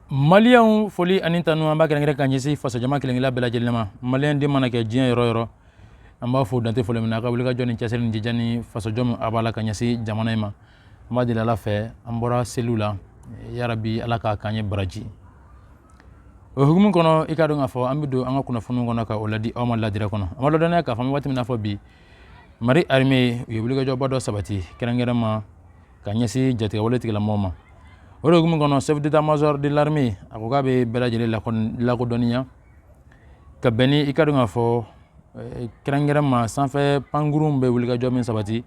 Maliyɛnw foli ani tanu an b'a kɛrɛnkɛrɛn ka ɲɛsin fasojama kelenkelen bɛɛ lajɛlen ma maliyɛn de mana kɛ diɲɛ yɔrɔ yɔrɔ an b'a fo dantɛ foli min n'a ka wulikajɔ ni cɛsiri ni jija ni fasojɔ min a b'a la ka ɲɛsin jamana in ma an b'a deli ala fɛ an bɔra seliw la yarabi ala k'a k'an ye baraji o hukumu kɔnɔ i k'a dɔn k'a fɔ an bɛ don an ka kunnafoni kɔnɔ ka o ladi aw ma ladirɛ kɔnɔ an b'a ladɔnniya k'a fɔ an bɛ waati min n'a fɔ bi mali armée u ye wulikajɔba dɔ sabati kɛrɛnkɛrɛn ma ka ɲɛsin jatigɛwale tigilamɔgɔ ma o de hukumu kɔnɔ chef d'état major de l'armée a ko k'a bɛ bɛɛ lajɛlen lakodɔnniya ka bɛn ni i k'a dɔn k'a fɔ eh, kɛrɛnkɛrɛn ma sanfɛ pankurun bɛ wulikajɔ min sabati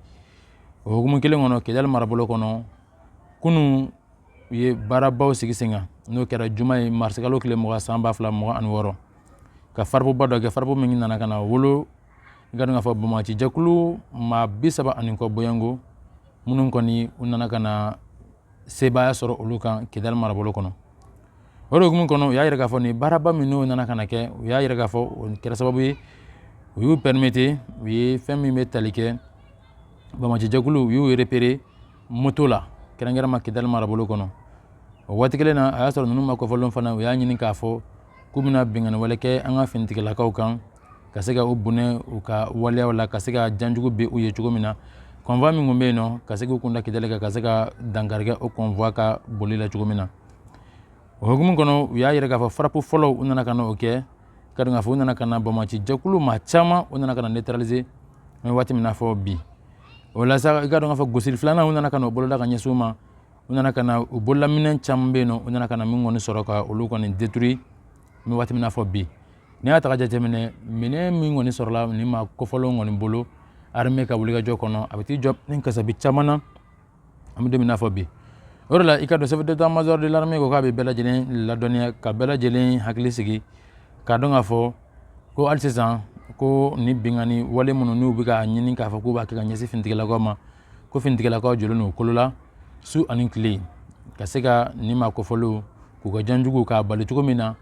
o hukumu kelen kɔnɔ kidali marabolo kɔnɔ kunu u ye baarabaw sigi sen kan n'o kɛra juma ye marisikalo tile mugan san ba fila mugan ani wɔɔrɔ ka frappe ba dɔ kɛ frappe min nana ka na wolo i k'a dɔn k'a fɔ banbaanci jɛkulu maa bi saba ani kɔ bɔɲɔnko minnu kɔni u nana ka na sebaaya sɔrɔ olu kan kidali marabolo kɔnɔ o de hukumu kɔnɔ u y'a jira k'a fɔ nin baaraba min n'u nana ka na kɛ u y'a jira k'a fɔ o kɛra sababu ye u y'u permettre u ye fɛn min bɛ tali kɛ banbaanci jɛkulu u y'u repérer moto la kɛrɛnkɛrɛn ma kidali marabolo kɔnɔ o waati kelen na a y'a sɔrɔ ninnu maa kofɔlen fana u y'a ɲini k'a fɔ k'u bɛna binkanni wale kɛ an ka finitigilakaw kan ka se ka u bɔnɛ u ka waleyaw la ka se ka janjugu bɛ u ye cogo min na convoi min tun bɛ yen nɔ ka se k'u kun da kidali kan ka se ka dankari kɛ o convoi ka boli la cogo min na o hukumu kɔnɔ u y'a jira k'a fɔ frappe fɔlɔ u nana ka na o kɛ i k'a dɔn k'a fɔ u nana ka na banbaanci jɛkulu maa caman u nana ka na neutraliser an bɛ waati min na fɔ bi o la sa i k'a dɔn k'a fɔ gosili filanan u nana ka na o boloda ka ɲɛsin u ma u nana ka na u bololaminɛn caman bɛ yen nɔ u nana ka na min kɔni sɔrɔ ka olu kɔni détruire an bɛ waati min na fɔ bi Ni y'a ta ka jateminɛ minɛn min kɔni sɔrɔla nin maa kofɔlen kɔni bolo armée ka wulikajɔ kɔnɔ a bɛ t'i jɔ ni kasabi caman na an bɛ don min na fɔ bi o de la i k'a dɔn chef d'état major de l'armée ko k'a bɛ bɛɛ lajɛlen ladɔnniya ka bɛɛ lajɛlen hakili sigi k'a dɔn k'a fɔ ko hali sisan ko nin binkanni wale minnu n'u bɛ ka ɲini k'a fɔ k'u b'a kɛ ka ɲɛsin finitigilakaw ma ko finitigilakaw jɔlen don u kolo la su ani tile ka se ka nin maa kofɔlenw k'u ka janjugu k'a bali cogo min na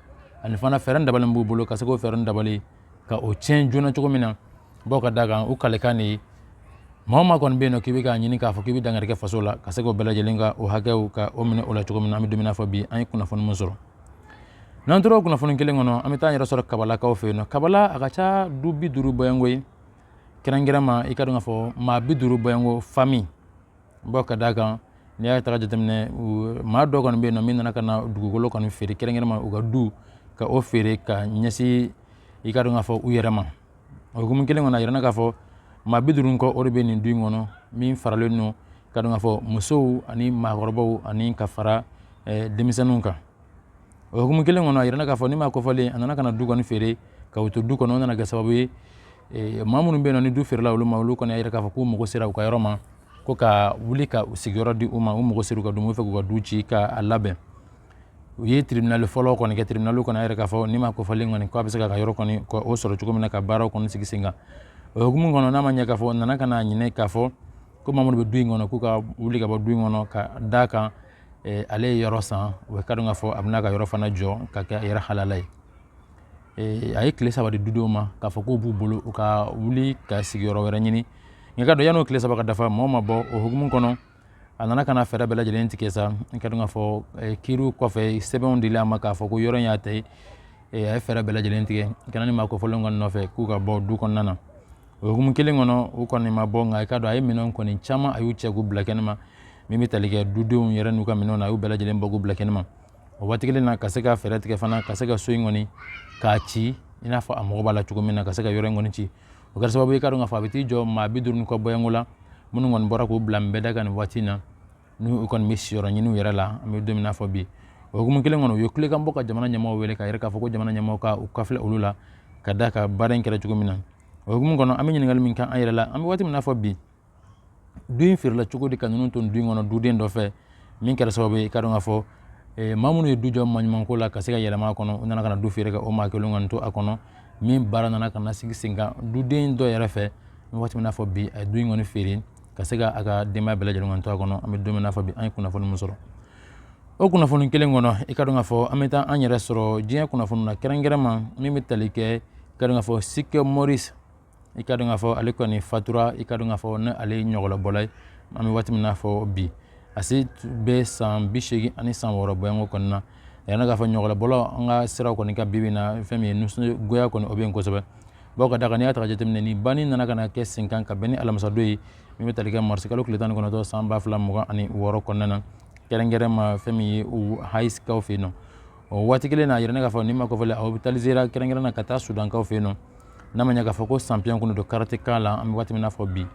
ani fana fɛɛrɛ dabalen b'u bolo ka se k'o fɛɛrɛ dabali ka o tiɲɛ joona cogo min na bawo ka da kan u kalikan de ye maa maa kɔni bɛ yen nɔ k'i bɛ k'a ɲini k'a fɔ k'i bɛ dankari kɛ faso la ka se k'o bɛɛ lajɛlen ka o hakɛw ka o minɛ o la cogo min na an bɛ don min na fɔ bi an ye kunnafoni min sɔrɔ n'an tora o kunnafoni kelen kɔnɔ an bɛ taa an yɛrɛ sɔrɔ kabalakaw fɛ yen nɔ kabala a ka ca du bi duuru bɔɲɔnko ye kɛrɛnkɛrɛnma i ka dɔn k'a fɔ maa bi duuru bɔɲɔgɔnko fami bawo ka d'a kan n'i y'a ta k'a jateminɛ maa dɔ kɔni bɛ yen nɔ min nana ka na dugukolo kɔni feere kɛrɛnkɛrɛnma u ka du ka o feere ka ɲɛsin i ka dɔn k'a fɔ u yɛrɛ ma o hukumu kelen kɔnɔ a yirana k'a fɔ maa bi duuru ni kɔ o de bɛ nin du in kɔnɔ min faralen don i ka dɔn k'a fɔ musow ani maakɔrɔbaw ani ka fara denmisɛnninw kan o hukumu kelen kɔnɔ a yirana k'a fɔ nin maa kofɔlen a nana ka na du kɔni feere ka u to du kɔnɔ o nana kɛ sababu ye eh, maa minnu bɛ yen nɔ ni du feerela olu ma olu kɔni y'a yira k'a fɔ k'u mago sera u ka yɔrɔ ma ko u ka wuli ka u sigiyɔrɔ di u ma u mago sera u ka du ma u b'a fɛ k'u ka du ci ka a labɛn u ye tribunali fɔlɔ kɔni kɛ tribunali kɔni y'a yira k'a fɔ nin maa kofɔlen kɔni k'a bɛ se k'a ka yɔrɔ kɔni ka o sɔrɔ cogo min na ka baaraw kɔni sigi sen kan o hukumu kɔnɔ n'a ma ɲɛ k'a fɔ a nana ka na ɲini k'a fɔ ko maa minnu bɛ du in kɔnɔ k'u ka wuli ka bɔ du in kɔnɔ ka d'a kan ale ye yɔrɔ san o ye i ka dɔn k'a fɔ a bɛna ka yɔrɔ fana jɔ k'a kɛ a yɛrɛ halala ye a ye tile saba di dudenw ma k'a fɔ k'o b'u bolo u ka wuli ka sigi yɔrɔ wɛrɛ ɲini nka i ka dɔn yann'o tile saba ka dafa mɔgɔ ma bɔ o hukumu kɔnɔ a nana ka na fɛɛrɛ bɛɛ lajɛlen tigɛ sa i ka dɔn k'a fɔ kiriw kɔfɛ sɛbɛnw dila a ma k'a fɔ ko yɔrɔ in y'a ta ye a ye fɛɛrɛ bɛɛ lajɛlen tigɛ ka na nin maa kofɔlen kɔni nɔfɛ k'u ka bɔ du kɔnɔna na o hukumu kelen kɔnɔ u kɔni ma bɔ nka i ka dɔn a ye minɛn kɔni caman a y'u cɛ k'u bila kɛnɛma min bɛ tali kɛ dudenw yɛrɛ n'u ka minɛnw na a y'u bɛɛ lajɛlen bɔ k'u bila kɛnɛma o waati kelen na ka se ka fɛɛrɛ tigɛ fana ka se ka so in kɔni k'a ci i n'a fɔ a mago b'a la cogo min na ka se ka yɔrɔ in kɔni ci o kɛra sababu i ka dɔn k'a fɔ a bɛ t'i jɔ maa bi duuru ni kɔ bɔɲɔgɔnko la minnu kɔni bɔra k'u bila nbɛda kan nin waati in na n'u kɔni bɛ siyɔrɔ ɲini u yɛrɛ la an bɛ don min na fɔ bi o hukumu kelen kɔnɔ u ye kulekan bɔ ka jamana ɲɛmɔgɔ wele k'a yira k'a fɔ ko jamana ɲɛmɔgɔ ka u kɔfilɛ olu la ka d'a kan baara in kɛra cogo min na o hukumu kɔnɔ an bɛ ɲininkali min kɛ an yɛrɛ la an bɛ waati min na fɔ bi du in feerela cogo di ka ninnu to du in kɔnɔ duden dɔ fɛ min kɛra sababu ye i ka dɔn k'a fɔ eh, maa minnu ye du jɔ maɲumanko la ka se ka yɛlɛma a kɔnɔ u nana ka na du feere ka o maa kelen kɔni to a kɔnɔ min baara nana ka na sigi sen kan duden dɔ yɛrɛ fɛ an bɛ waati min na fɔ bi a ye du in kɔni feere ka se ka a ka denbaya bɛɛ lajɛlen kɔni to a kɔnɔ an bɛ don min na fɔ bi an ye kunnafoni min sɔrɔ o kunnafoni kelen kɔnɔ i ka dɔn k'a fɔ an bɛ taa an yɛrɛ sɔrɔ diɲɛ kunnafoni na kɛrɛnkɛrɛnma min bɛ tali kɛ i ka dɔn k'a fɔ Chuck Norris i ka dɔn k'a fɔ ale kɔni fatura i ka dɔn k'a fɔ ni ale ye ɲɔgɔlɔnbɔla ye an bɛ waati min na fɔ bi a si bɛ san bi seegin ani san wɔɔrɔ bɔɲɔgɔnko kɔni na a yirana k'a fɔ ɲɔgɔlɔnbɔlaw ka sira kɔni kan bi bi in na fɛn min ye nisɔngoya kɔni o bɛ yen kosɛbɛ bawo ka d'a kan n'i y'a ta jateminɛ nin banni nana ka na kɛ sen kan ka bɛn ni alamisadon ye min bɛ tali kɛ marisikalo tile tan ni kɔnɔntɔn san ba fila mugan ani wɔɔrɔ kɔnɔna na kɛrɛnkɛrɛnma fɛn min ye hawayikaw fɛ yen nɔ o waati kelen na a yirana k'a fɔ nin maa kofɔlen ɔsipitalizera kɛrɛnkɛrɛn na ka taa sudankaw fɛ yen nɔ n'a ma ɲɛ k'a fɔ ko sanpiyɔn kɔni don karate kan la an bɛ waati min na fɔ bi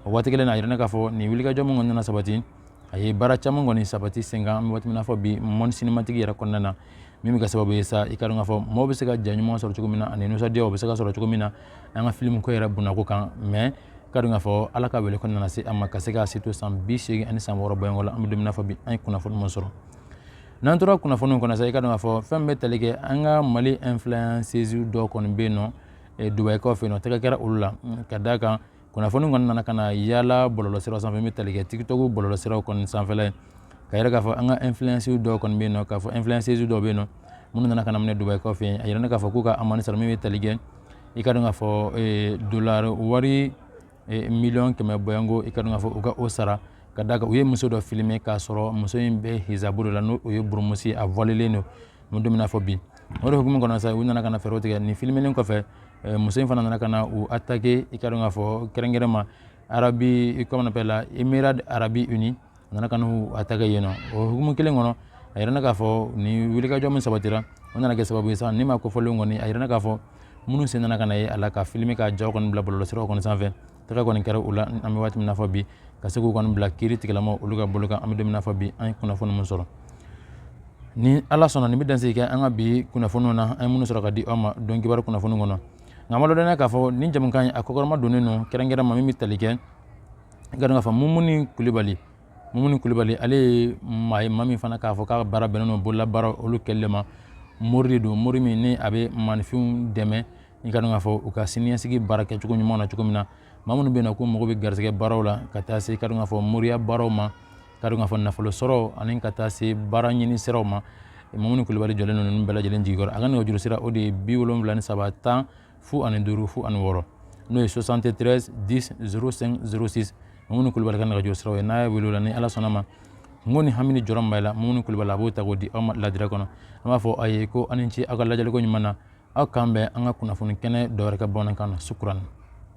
o waati kelen na a yirana k'a fɔ nin wulikajɔ min kɔni nana sabati a ye baara caman kɔni sabati sen kan an bɛ waati min na fɔ bi monde cinématique yɛrɛ kɔnɔna na min bɛ kɛ sababu ye sa i ka dɔn k'a fɔ mɔgɔw bɛ se ka ja ɲuman sɔrɔ cogo min na ani nisɔndiya o bɛ se ka sɔrɔ cogo min na an ka filimu ko yɛrɛ bonnako kan mɛ ka dɔn k'a fɔ ala ka wele kɔni nana se a ma ka se k'a si to san bi seegin ani san wɔɔrɔ bɔɲɔgɔn la an bɛ don min na fɔ bi an ye kunnafoni min sɔrɔ n'an tora kunnafoniw kɔnɔ sa i ka dɔn k'a fɔ fɛn bɛ tali kɛ an ka mali influences dɔ kɔni bɛ yen nɔ dubayi kɔfɛ yen nɔ tɛgɛ kɛra olu la ka d'a kan kunnafoni kɔni nana ka na yaala bɔlɔlɔsira sanfɛ bɛ tali kɛ tikitɔku bɔlɔlɔsiraw kɔni sanfɛ k'a yira k'a fɔ an ka influence dɔw kɔni bɛ yen nɔ k'a fɔ influence dɔw bɛ yen nɔ minnu nana ka na minɛ Dubayi kɔfɛ yen a yirana k'a fɔ k'u ka amende sara min bɛ tali kɛ i ka dɔn k'a fɔ dolari wari miliyɔn kɛmɛ bɔɲɔgɔnko i ka dɔn k'a fɔ u ka o sara ka d'a kan u ye muso dɔ filime k'a sɔrɔ muso in bɛ hizabu dɔ la n'o ye burumusi a vɔlelen don an bɛ don min na fɔ bi o de hukumu kɔnɔ sa u nana ka na fɛɛrɛ tigɛ nin filimelen kɔfɛ eh, muso in fana nana ka na u atake i ka dɔn k'a fɔ kɛrɛnkɛrɛn ma arabi i comment on appelle là Émirats arabes unis a nana ka n'u atake yen nɔ o hukumu kelen kɔnɔ a yirana k'a fɔ ni wulikajɔ min sabatira o nana kɛ sababu ye sa nin maa kofɔlen kɔni a yirana k'a fɔ minnu sen nana ka na ye a la ka filime ka jaw kɔni bila bɔlɔlɔsiraw kɔni sanfɛ tɛgɛ kɔni kɛra u la an bɛ waati min na fɔ bi ka se k'u kɔni bila kiritigɛla maa olu ka bolo kan an bɛ don min na fɔ bi an ye kunnafoni min sɔrɔ ni ala sɔnna nin bɛ dansigi kɛ an ka bi kunnafoniw na an ye minnu sɔrɔ ka di aw ma don kibaru kunnafoni kɔnɔ nka an b'aw ladɔnniya k'a fɔ nin jɛmukan in a kɔkɔrɔma donnen don kɛrɛnkɛrɛn ma min bɛ tali kɛ i ka dɔn k'a fɔ mumuni kulibali mumuni kulibali ale ye maa ye maa min fana k'a fɔ k'a baara bɛnnen don bololabaara olu kɛlɛli ma mori de don mori min ni a bɛ maaninfinw dɛmɛ i ka dɔn k'a fɔ u ka siniɲɛsigi baara kɛcogo ɲuman na cogo min na maa minnu bɛ na ko mago bɛ garisɛgɛ baaraw la ka taa se i ka dɔn k'a fɔ moriya baaraw ma i ka dɔn k'a fɔ nafolo sɔrɔ ani ka taa se baara ɲini siraw ma mumuni kulubali jɔlen don ninnu bɛɛ lajɛlen jigiyɔrɔ a ka nɛgɛjuru sira o de ye bi wolonwula ni saba tan fu ani duuru fu ani wɔɔrɔ n'o ye 73 10 05 06 mumuni kulubali ka nɛgɛjuru siraw ye n'aw ye wele o la ni ala sɔnna a ma N ko ni hami ni jɔrɔ b'aw la mumuni kulubali a b'o ta k'o di aw ma ladiriya kɔnɔ an b'a fɔ aw ye ko aw ni ce aw ka lajɛliko ɲuman na aw k'an bɛn an ka kunnafoni kɛnɛ dɔ wɛrɛ kan bamanankan na sukuran